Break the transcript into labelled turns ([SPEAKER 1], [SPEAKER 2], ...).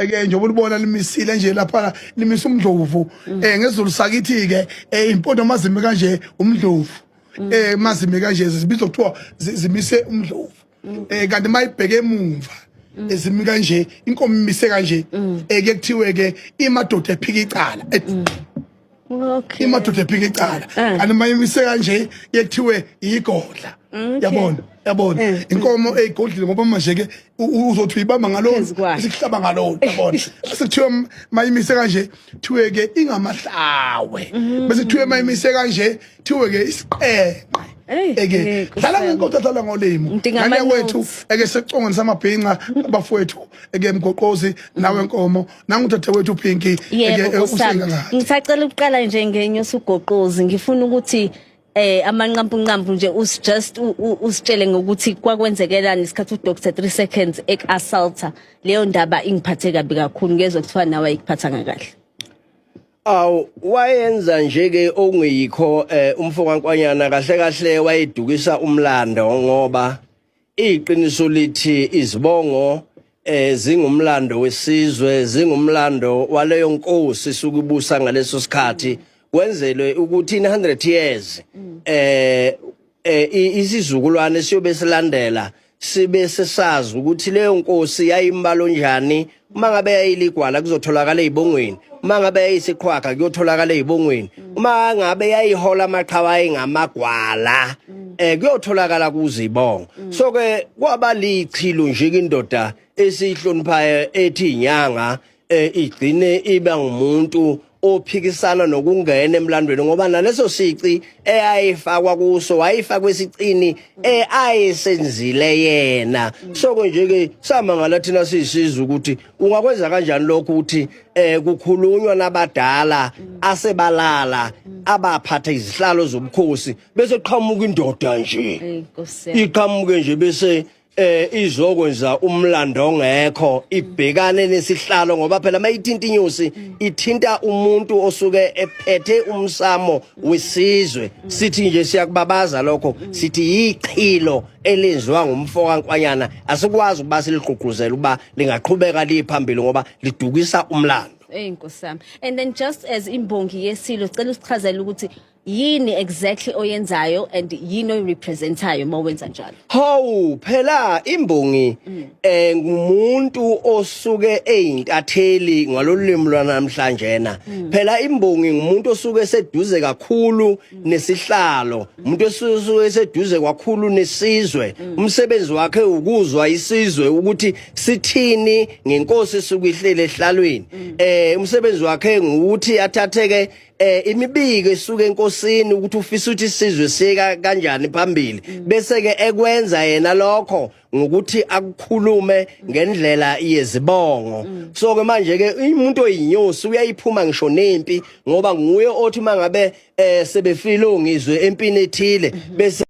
[SPEAKER 1] ke njengoba ulibona limisile nje lapha limisa umdlovu mm. eh ngezulu sakithi ke eh, impondo mazimi kanje umdlovu mm. eh mazimi kanje zibizwa kuthiwa zimise umdlovu eh kanti mayibheke emuva mm. ezimi kanje inkomo imise kanje mm. eh kuthiwe ke imadoda ephika icala mm.
[SPEAKER 2] okay imadoda ephika
[SPEAKER 1] icala eh. kanti mayimise kanje kuthiwe igodla yabona yabona eh. inkomo eyigodlile eh, ngoba manje ke uzothi uyibamba ngalona isihlaba ngalona yabona asikuthiwe mayimise kanje kuthiwe ke ingamahlawe mm. bese kuthiwe mayimise kanje thiwe ke isiqeqe eke dlala ngenkosi adlala ngolimo ngane wethu eke secongweni samabhinca abafowethu eke mgoqozi nawe nkomo nangudade wethu pinki eke eh, usinga
[SPEAKER 2] ngathi ngisacela ukuqala nje ngenye usugoqozi ngifuna ukuthi eh amanqampunqampu nje us just usitshele ngokuthi kwakwenzekelani isikhathi u Dr 3 seconds ek assaulta leyo ndaba ingiphathe kabi kakhulu ngezwe kuthiwa nawe ayikuphatha ngakahle Aw
[SPEAKER 3] wayenza nje ke okungeyikho eh, umfo kaNkwanyana kahle kahle wayedukisa umlando ngoba iqiniso lithi izibongo eh zingumlando wesizwe zingumlando waleyo nkosi sukubusa ngaleso sikhathi wenzelwe ukuthi in 100 years eh eh isizukulwane siyobe silandela sibe sesazi ukuthi leyo nkosi yayimbalo njani uma ngabe yayiligwala kuzotholakala ezibongweni uma ngabe yayisiqhwaga kuyotholakala ezibongweni uma ngabe yayihola amaqhawa engamagwala eh kuyotholakala kuzibongo so ke kwaba lichilo nje indoda esihloniphayo ethi inyanga eh igcine iba ngumuntu ophikisana nokungena emlandweni ngoba naleso sici eyayifakwa kuso wayifakwa esicini eyayisenzile yena soko nje ke samangala thina sisiza ukuthi ungakwenza kanjani lokho ukuthi eh kukhulunywa nabadala asebalala abaphatha izihlalo zobukhosi bese qhamuka indoda nje iqhamuke nje bese eh izoko nje umlando ongekho ibhekane nesihlalo ngoba phela mayithinta inyusi ithinta umuntu osuke ephethe umsamo wesizwe sithi nje siyakubabaza lokho sithi yichilo elenziwa ngumfoka nkwanyana asikwazi ukuba siligqugquzela ukuba lingaqhubeka liphambili ngoba lidukisa umlando Ey nkosami
[SPEAKER 2] and then just as imbongi yesilo cela usichazele ukuthi yini exactly oyenzayo and yini oyirepresentayo uma wenza njalo hawu phela
[SPEAKER 3] imbongi mm. eh ngumuntu osuke eyintatheli ngalolimi lwanamhlanje na mm. phela imbongi ngumuntu osuke seduze kakhulu mm. nesihlalo umuntu osuke seduze kakhulu nesizwe umsebenzi wakhe ukuzwa isizwe ukuthi sithini ngenkosi esuke ihlele ehlalweni eh umsebenzi wakhe ngukuthi athatheke eh imibiko esuka enkosini ukuthi ufisa ukuthi isizwe siyeka kanjani phambili mm. bese ke ekwenza yena lokho ngokuthi akukhulume ngendlela yezibongo mm. so ke manje ke umuntu oyinyosi uyayiphuma ngisho nempi ngoba nguye othi mangabe eh sebefile ongizwe empini ethile mm-hmm. bese